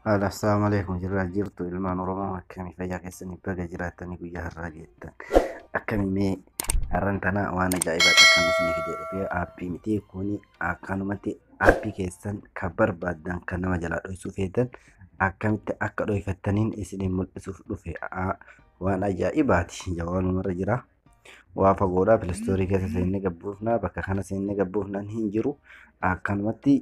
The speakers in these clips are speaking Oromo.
Haala assalamu alaikum jirraa jirtu ilmaan Oromoo akkamii fayyaa keessanii baga jiraattanii guyyaa har'aa geettan akkamii mee har'an tana waan ajaa'ibaa akkan isinii fidee dhufee aappii miti kuni akkanumatti aappii keessan kan barbaaddan kan nama jalaa dhoysuu feetan akkamitti akka dhoyfattaniin isiniin mul'isuuf dhufe Aa, waan ajaa'ibaati jawaanumarra jira waa fagoodhaa pilistoorii keessa seennee gabbuufnaa bakka kana seennee gabbuufnaan hin jiru akkanumatti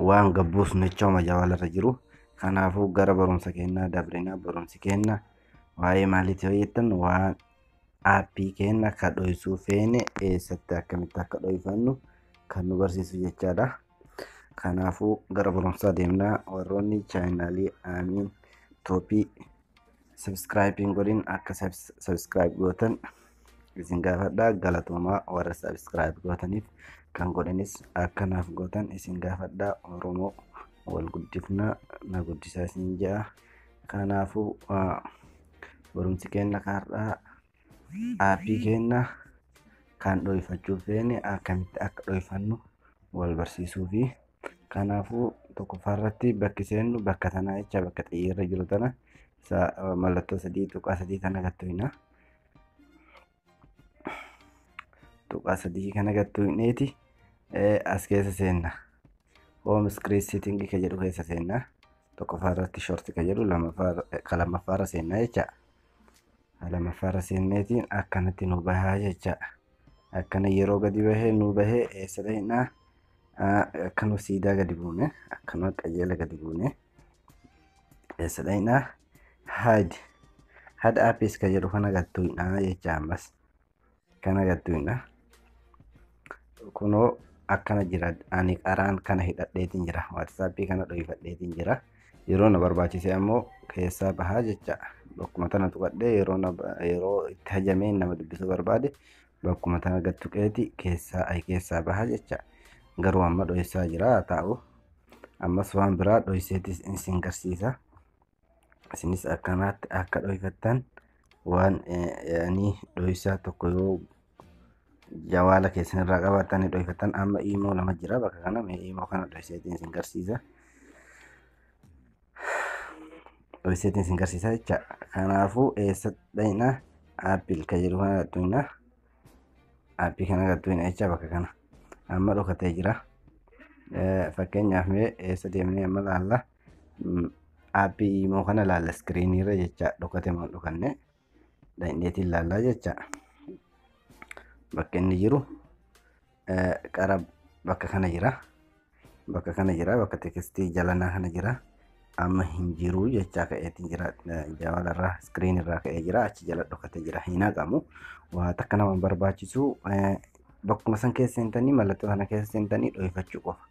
waan gabbuusnu jecha homa jawaalarra jiru kanaafuu gara barumsa kennaa dabrinaa barumsi kenna waa'ee maaliitti yoo jettan waan aappii kenna akka dhoysuu feene eessatti akkamitti akka dhoyfannu kan nu barsiisu jechaadha kanaafuu gara barumsaa deemnaa warroonni chaayinaalii aamiin tooppii Subscribe hin godhin akka subs- subscribe gootan isin gaafadha galatoomaa warra subscribe gootaniif kan godhanis akka naaf gootan isin gaafadha oromoo wal guddifnaa na guddisaa isin ja'a kanaafuu ah, barumsi keenya kaarraa aappii keenya kan dho'ifachuuf feene akkamitti akka dho'ifannu wal barsiisuu fi Kanaafuu tokkoffaa irratti bakki seennu bakka tanaa jecha bakka xiyyeerri jiru tana isa eh, mallattoo sadii tuqaa sadii kana gattu hina. Tuqaa sadii kana gattu hineeti eh, as keessa seenna. Home screen setting ka jedhu keessa seenna. Tokkoffaa irratti short ka jedhu lamaffaa irra- ka lammaffaa irra seenna jecha. lamaffaa irra seenneetiin akkanatti nu bahaa jecha akkana yeroo gadi bahee nu bahee eessa dhahinaa akka nu siidaa gadi buune akkana qajeela gadi buune eessa dhahinaa haad haad aapiis ka jedhu kana galtuudhaa jecha ammas kan agartuu hin dha kunoo akkana jira ani qaraan kana hidhadheetiin jira waatsaappii kana dhoyifadheetiin jira yeroo na barbaachise ammoo keessaa bahaa jecha bakkuma tana tuqadhee yeroo na yeroo itti hajamee nama dubbisuu barbaade bakkuma tana gad tuqeeti keessaa ay keessaa bahaa jecha garuu amma dhoysaa jira haa taa'u ammas waan biraa dhoyseetis isin garsiisa isinis akkanaatti akka dhoyfattan waan ani dhoysaa tokko yoo jawaala keessan irraa qabaattan ni dhoyfattan amma iimoo lama jira bakka kana mee iimoo kana dhoyseetiin isin garsiisa dhoyseetiin isin garsiisa jecha kanaafuu eessa dhayna aappil ka jedhu kana gattuina aappii kana gattuina jecha bakka kana amma dhokatee jira fakkeenyaaf mee eessa deemnee amma laalla Aappii imoo kana ilaalla iskiriinii irra jecha dhokate moo dhokanne dandeetii ilaallaa jecha bakka inni jiru qara bakka kana jira bakka kana jira bakka tekstii jalanaa kana jira amma hin jiru jechaa ka'eetiin jira jawala irraa iskiriin irraa ka'ee jira achi jala dhokate jira hin haqamu waa takka nama barbaachisu bakkuma san keessa seentanii mallattoo sana keessa seentanii dhohifachuu qofa.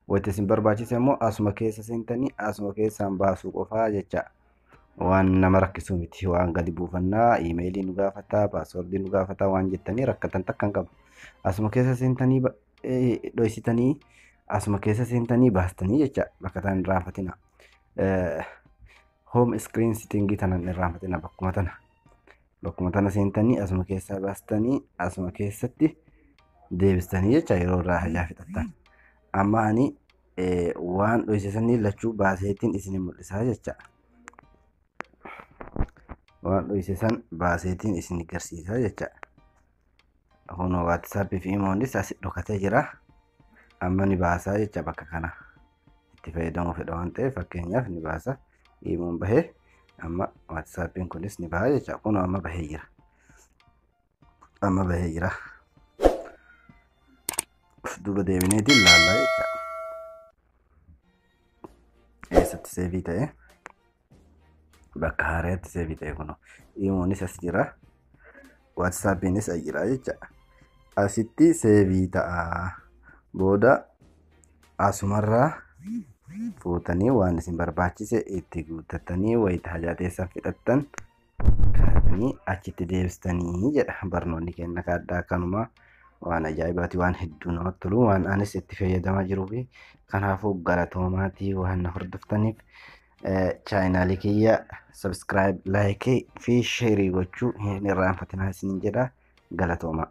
Wanti isin barbaachise immoo asuma keessa seentanii asuma keessaan baasuu qofaa jecha. Waan nama rakkisuu miti waan gadi buufannaa iimeelii nu gaafataa paaswordii nu gaafataa waan jettanii rakkatan takka hin qabu. Asuma keessa seentanii ba- eh, dhohisitanii asuma keessa seentanii baastanii jecha bakka isaan hin raanfatina. Home screen sittingii tanan hin raanfatina bakkuma tana. bakkuma tana seentanii asuma keessaa baastanii asuma keessatti deebistanii jecha yeroo irraa hajaa fixattan. Amma ani eh, waan dhoysisanii lachuu baaseetiin isin mul'isaa jecha. Waan dhoysisan baaseetiin isin garsiisaa jecha. Kun WhatsApp fi Imoonis asi dhokatee jira. Amma ni baasaa jecha bakka kana. itti fayyadamuu fedha waan ta'eef fakkeenyaaf ni baasa iimoon bahee amma waatsaappiin kunis ni baha jecha kun amma bahee jira amma bahee jira duuba deebineetiin laallaa jecha eessatti seevii ta'e bakka haaraatti see bitee kuno iimoonis as jira waatsaappiinis as jira jecha asitti seevii ta'a booda asumarraa fuutanii waan isin barbaachise itti guuttatanii wayita hajaa teessan fixattan kaatanii achitti deebistanii jedha barnoonni kenna kaaddaa kanuma waan ajaa'ibaati waan hedduu namatti tolu waan anis itti fayyadamaa jiruu fi kanaafuu galatoomaa waan na hordoftaniif chaayinaalii kiyya subscribe like fi sheerii gochuu hin irraanfatinaa isin jedha galatoomaa.